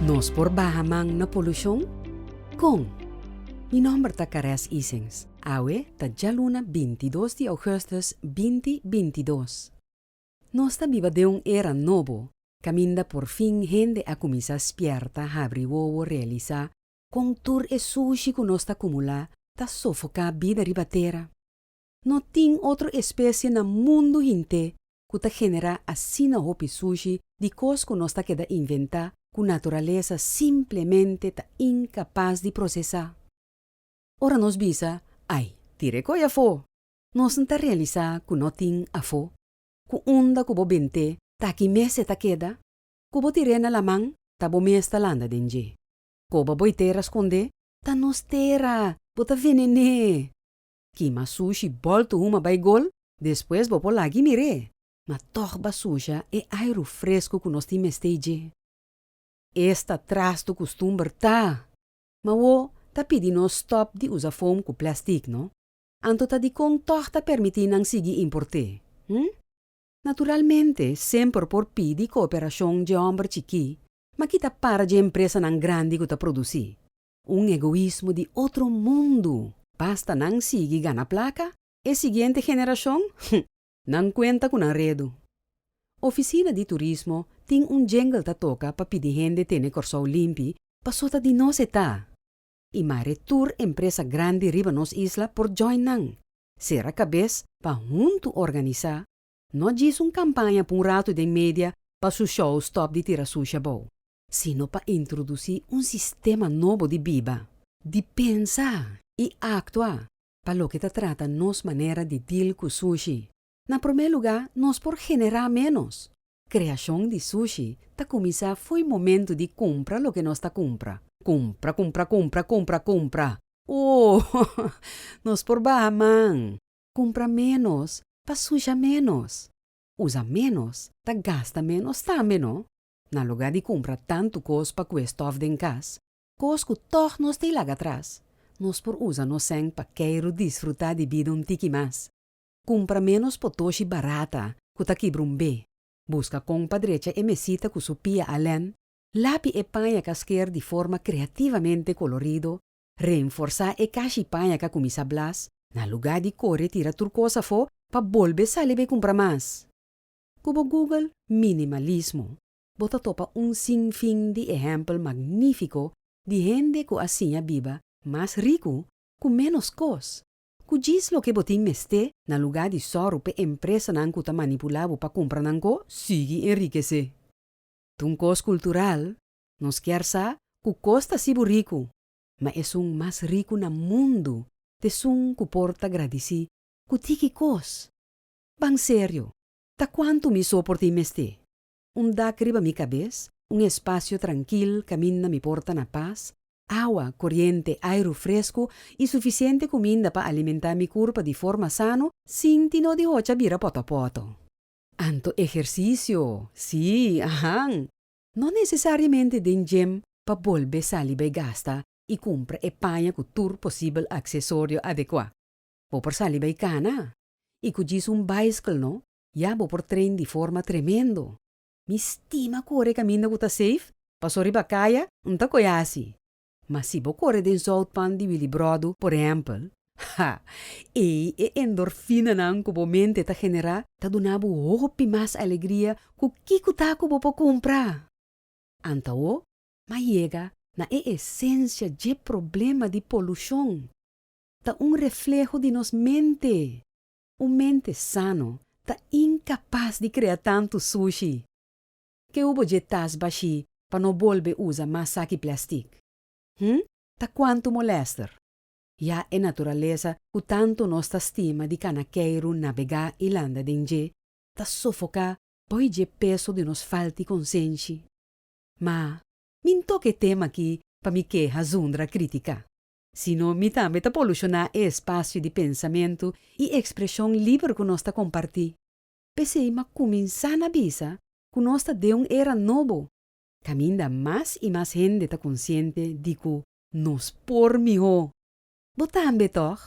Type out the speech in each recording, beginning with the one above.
Nos por baha man na polushon? Kon? Mi nòmber ta Caresse Isens. Awe ta djaluna binti dos di ougùstùs binti binti dos. Nos ta biba den un era nobo kaminda por fin hende a kuminsá spièrta, habri wowo, realisá kon tur e sushi ku nos ta kumulá ta sofoká bida riba tera. No tin otro espesie na mundu hint'é ku ta generá asina hopi sushi di kos ku nos ta keda inventá ku naturalesa simplemente ta inkapas di prosesá. Ora nos bisa, Ai, tir'é koi afó! nos N ta realisá ku no tin afó. Ku unda ku bo bent'é ta aki mes e ta keda? Ku bo tir'é na laman ta bo mes ta landa den dje. Koba bo e tera skond'é? Ta nos tera, bo ta venené! Kima sushi bòl tu huma bai gol, despues bo por lag'i mir'é. Ma tòg basusha e airu fresku ku nos tin mestei dje. Esta trastu kustumber ta. Ma wo ta pidi nos stòp di usa foam ku plèstik, no? Anto ta dikon tòg ta permití nan sigui import'é, hm? Naturalmente semper por pidi kooperashon dje hòmber chikí, ma kita para dje empresanan grandi ku ta produsí. Un egoismo di otro mundu! Basta nan sigui gana placa, e siguiente generacion, hm, nan cuenta cu nan redu. Oficina di Turismo tin un jingle ta toca pa pidi hende tene Corsou limpi paso ta di nos e ta. Y mare tur empresa grandi riba nos isla por join nan, cera cabez pa hunto organiza, no djis un campaña pa un rato den media pa su show stop di tira sushi abou. sino pa introdusí un sistema nobo di biba, di pensa i aktua pa loke ta trata nos manera di dil ku sushi. Na promé lugá nos por generá ménos. Kreashon di sushi ta kuminsá fo'i momentu di kumpra loke nos ta kumpra. Kumpra, kumpra, kumpra, kumpra, kumpra. Ooh! Nos por baha man. Kumpra ménos pa susha ménos. Usa ménos ta gasta ménos tambe no. Na lugá di kumpra tantu kos pa kue stòf den kas, kos ku tòg nos tin laga tras, nos por usa nos sèn pa kèru disfrutá di bida un tiki mas. Kumpra ménos potoshi barata ku ta kibra un be. Buska kon pa drecha e mesita ku su pia alèn, lapi e pañaka sker di forma kreativamente kolorido, reenforsá e kashi pañaka ku misa blas, na lugá di kore tira tur kos afó pa bolbe sali bai kumpra mas. Cu bo google minimalismo bo ta topa un sinfin di ehempel magnifico di hende cu a siña biba mas ricu cu menos cos, cu djis loke bo tin mester na lugar di sorro p'e empresanan cu ta manipula bo pa cumpra nan co, sigui enrikece. T'un cos cultural, nos kier sa cu cos ta sibu ricu, ma esun mas ricu na mundo t'esun cu por ta gradici cu tiki cos. Ban serio, ta kuantu mi so por tin mester? Un dak riba mi kabes, un espasio trankil kaminda mi por ta na pas, awa, koriente, airu fresku i sufisiente kuminda pa alimentá mi kurpa di forma sano sin tin no di hocha bira pòtòpòtò. Anto ehersisio, sí, ahan! No nesesariamente den djem pa bolbe sali bai gasta i kumpra e paña ku tur posibel aksesorio adekuá. Bo por sali bay cana y cu djis un bicycle no ya bo por train di forma tremendo. Mi stima core caminda cu ta safe, paso riba caya no ta coe haci. Ma si bo core den zoutpand di Willibrordoo por ehempel, ha! ey e endorfinanan cu bo mente ta genera ta duna bo hopi mas alegria cu kico ta cu bo por cumpra. Antawo m'a yega na e esencia dje problema di polucion. ta un refleho di nos mente. Un mente sano ta incapas di crea tantu sushi. Ke hubo dje tas bashi pa no bolbe usa mas saki plastic? Hm, ta cuantu molester. Ya e naturalesa cu tantu nos ta stima di cana keiru nabega y landa den dje, ta sofoca poi dje peso di nos falti consenshi. Ma, mi ntoca e tema aki pa mi keha zundra critica. sino mi tambe ta polushoná e espasio di pensamentu i ekspreshon liber ku nos ta kompartí. P'esei m'a kuminsá na bisa ku nos ta den un era nobo, kaminda mas i mas hende ta konsiente di ku nos por mihó. Bo tambe tòg?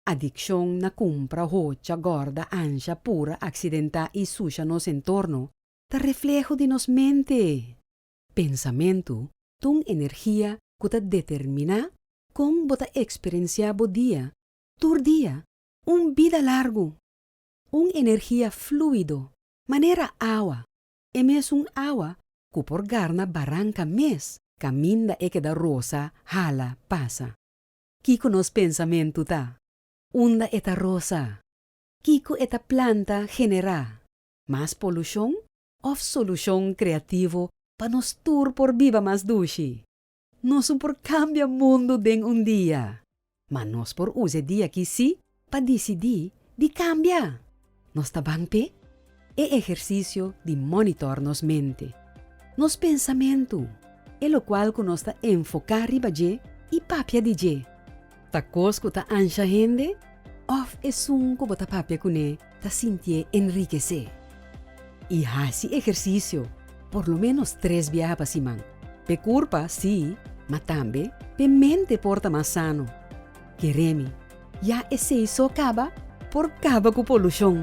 Adikshon na kumpra hocha gòrda ansha pura aksidentá i susha nos entorno ta refleho di nos mente. Pensamentu ta un energia ku ta determiná kon bo ta eksperensiá bo dia tur dia, un bida largu, un energia flúido manera awa, e mesun awa ku por garna baranka mes kaminda e keda rosa, hala, pasa. Kiko nos pensamentu ta? Unda e ta rosa? Kiko e ta planta generá mas polushon òf solushon kreativo pa nos tur por biba mas dushi. Nos no por kambia mundu den un dia, ma nos por usa e dia aki sí pa disidí di kambia. Nos ta ban p'e e ehersisio di mònitòr nos mente, nos pensamentu, e lokual ku nos ta enfoká riba dje i papia di dje. Ta kos ku ta ansha hende òf esun ku bo ta papia kuné ta sintié enrikesé? I hasi ehersisio por lo ménos tres biaha pa siman. P'e kurpa sí, ma tambe p'e mente por ta mas sano. Keremi, ya esei so kaba por kaba ku polushon!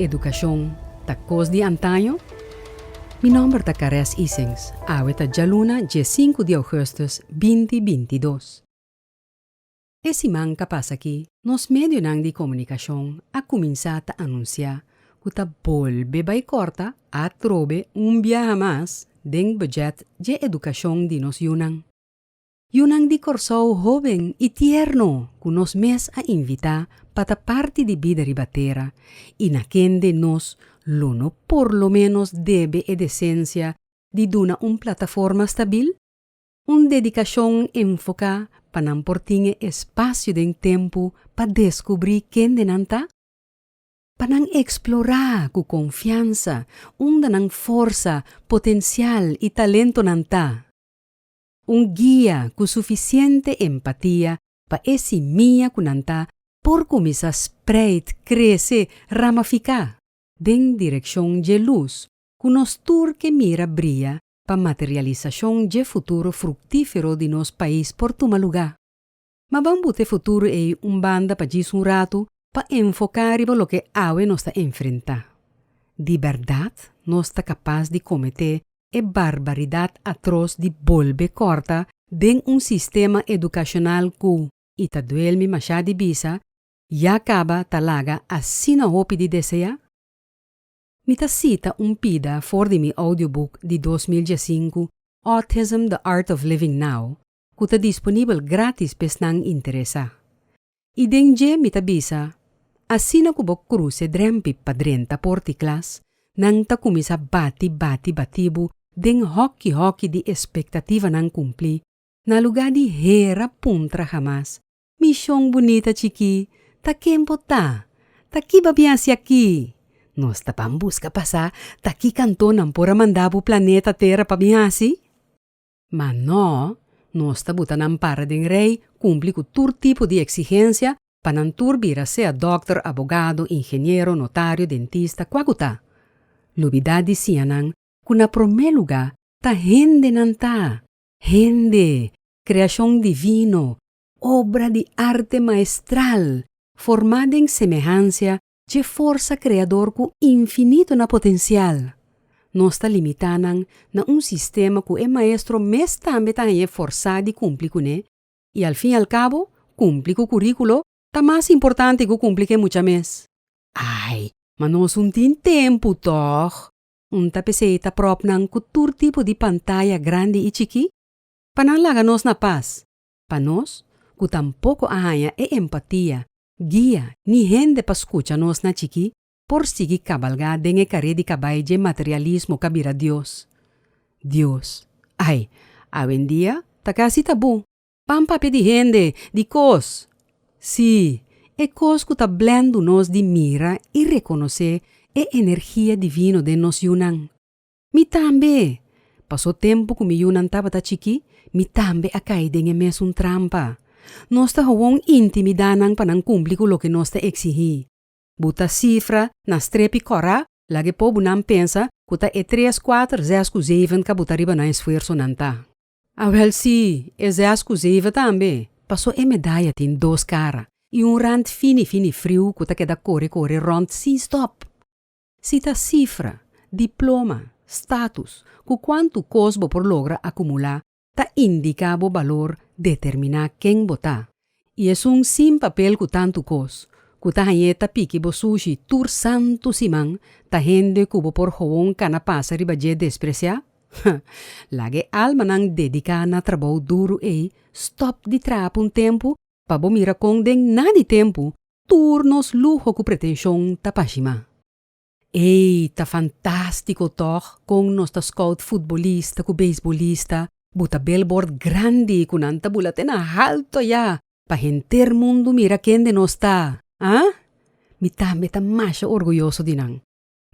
Educacion ta cos di antaño? Mi nomber ta Caress Isings, awe ta djaluna dje sinku di augustus binti binti dos. E siman ta pasa aki nos medionan di comunicacion a cuminsa ta anuncia cu ta bolbe bay corta atrobe un biaha mas den budget dje educacion di nos yunan. Yunan di Kòrsou hoben i tierno ku nos mes a invitá pa ta parti di Bida Riba Tera i na kende nos lo no por lo ménos debe e desensia di duna un plataforma stabil, un dedikashon enfoká pa nan por tin e espasio den tempu pa deskubrí kende nan ta, pa nan eksplorá ku konfiansa unda nan forsa, potensial i talentonan ta. Un guia cu suficiente empatia pa e simia cu nan ta por cuminsa spreid, crece, ramafica den direccion dje luz cu nos tur ke mira bria pa materialisacion dje futuro fructifero di nos pais por tuma lugar. Ma ban buta e futuro ei un banda pa djis un ratu pa enfoká riba loke awe nos ta enfrentá. Di bèrdat nos ta kapas di kometé e barbaridat atros di bolbe kòrta den un sistema edukashonal ku, i ta duel mi mashá di bisa, ya kaba ta laga asina hopi di deseá? Mi ta sita un pida for di mi audiobuk di dos mil diesinku Autism, The Art of Living Now, ku ta disponibel grátis pa esnan interesá. I den dje mi ta bisa, Asina ku bo kruse drèmpi pa drenta por di klas, nan ta kuminsá bati, bati, batí bo den hòki, hòki di espektativanan kumplí, na lugá di hera puntra hamas, Mishon bunita chikí, ta ken bo ta? Ta ki bo a bin hasi akí? Nos ta ban buska pasá ta ki kantó nan por a mandá bo planeta tera pa bin hasi? Ma no, nos ta buta nan para den rei, kumpli ku tur tipo di eksigensia, pa nan tur bira sea dòkter, abogado, ingeniero, notario, dentista, kua ku ta. Lubidá di siña nan ku na promé lugá ta hende nan ta, hende, kreashon divino, obra di arte maestral, formá den semehansia dje forsa kreador ku infinito na potensial, nos ta limitá nan na un sistema ku e maestro mes tambe ta hañ'é forsá di kumpli kuné, i al fin al kabo kumpli ku kuríkulo ta mas importante ku kumpli ku e mucha mes. Ai, ma nos un tin tempu tòg! Un ta p'esei ta pròp nan ku tur tipo di pantaya grandi i chikí pa nan laga nos na pas, pa nos ku tampoko a haña e empatia Guia, ni hende pa skucha nos na chikí por sigui kabalgá den e karé di kabai dje materialismo ka bira Dios. Dios, Ai, awendia ta kasi ta bon, pan papia di hende, di kos, sí, e kos ku ta blendu nos di mira i rekonosé e energia divino den nos yunan. Mi tambe! Pasó tempu ku mi yunan tabata chikí, mi tambe a kai den e mesun trampa. Nos ta houwon intimidá nan pa nan kumpli ku loke nos ta eksigí. Bu ta sifra na strepi kòrá, laga e pobunan pensa ku ta e tres, kuater, zes ku zeiven ka bo ta riba nan esfuersonan, ta? Awèl sí, e zes ku zeiven tambe. Pasó e medaya tin dos kara i un rant fini fini friu ku ta keda kore kore rònt sin stòp. Si ta sifra, diploma, status cu cuantu cos bo por logra acumula ta indica bo balor determina ken bo ta. Y esun sin papel cu tantu cos cu ta hañ'e ta piki bo sushi tur santu siman ta hende cu bo por gewoon cana pasa riba dje desprecia? Ha! Laga e almanan dedica na trabou duru ey stop di traha p'un tempu pa bo mira con den na di tempu tur nos luho ku pretenshon ta pashimá. Ei, ta fantástiko tòg kon nos ta skout futbolista ku beisbolista buta belbòrt grandi ku nan ta bula te na haltu ayá pa henter mundu mira kende nos ta, a! Mi tambe ta masha orguyoso di nan.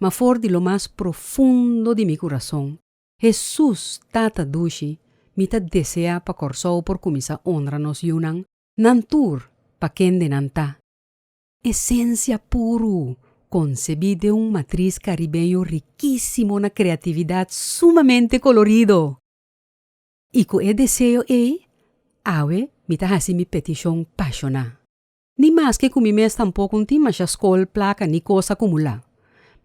Ma for di lo mas profundo di mi kurason, Hesus, Tata dushi, mi ta deseá pa Kòrsou por kuminsá onra nos yunan nan tur pa kende nan ta. Esencia puru, concebi den un matriz caribeño riquisimo na creatividad sumamente colorido. Y cu e deseo ey, awe mi ta haci mi peticion pasioná. Ni maske cu mi mes tampoco n'tin masha scol, placa ni cos acumulá,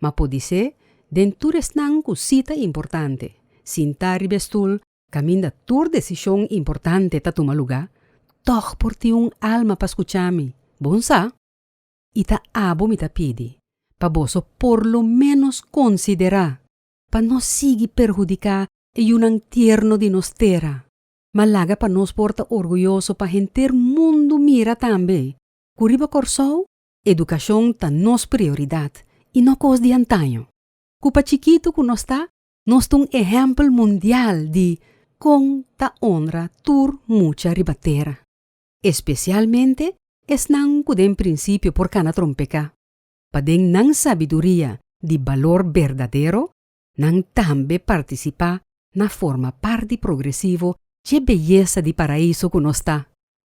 ma podisé den tur esnan cu sí ta importante, sintá riba e stoel Kaminda tur desishon importante ta tuma lugá, tòg por tin un alma pa skuchá mi. Bon sa, i ta abo mi ta pidi, pa boso por lo ménos konsiderá pa no sigui perhudiká e yunan tierno di nos tera, ma laga pa nos por ta orguyoso pa henter mundu mira tambe ku riba Kòrsou edukashon ta nos prioridat i no kos di antaño, ku pa chikitu ku nos ta Nos ta un ehèmpel mundial di kon ta onra tur mucha riba tera, espesialmente esnan ku den prinsipio por kana trompeká, pa den nan sabiduria di balor berdadero nan tambe partisipá na forma parti progresivo dje beyesa di Paraíso ku nos ta.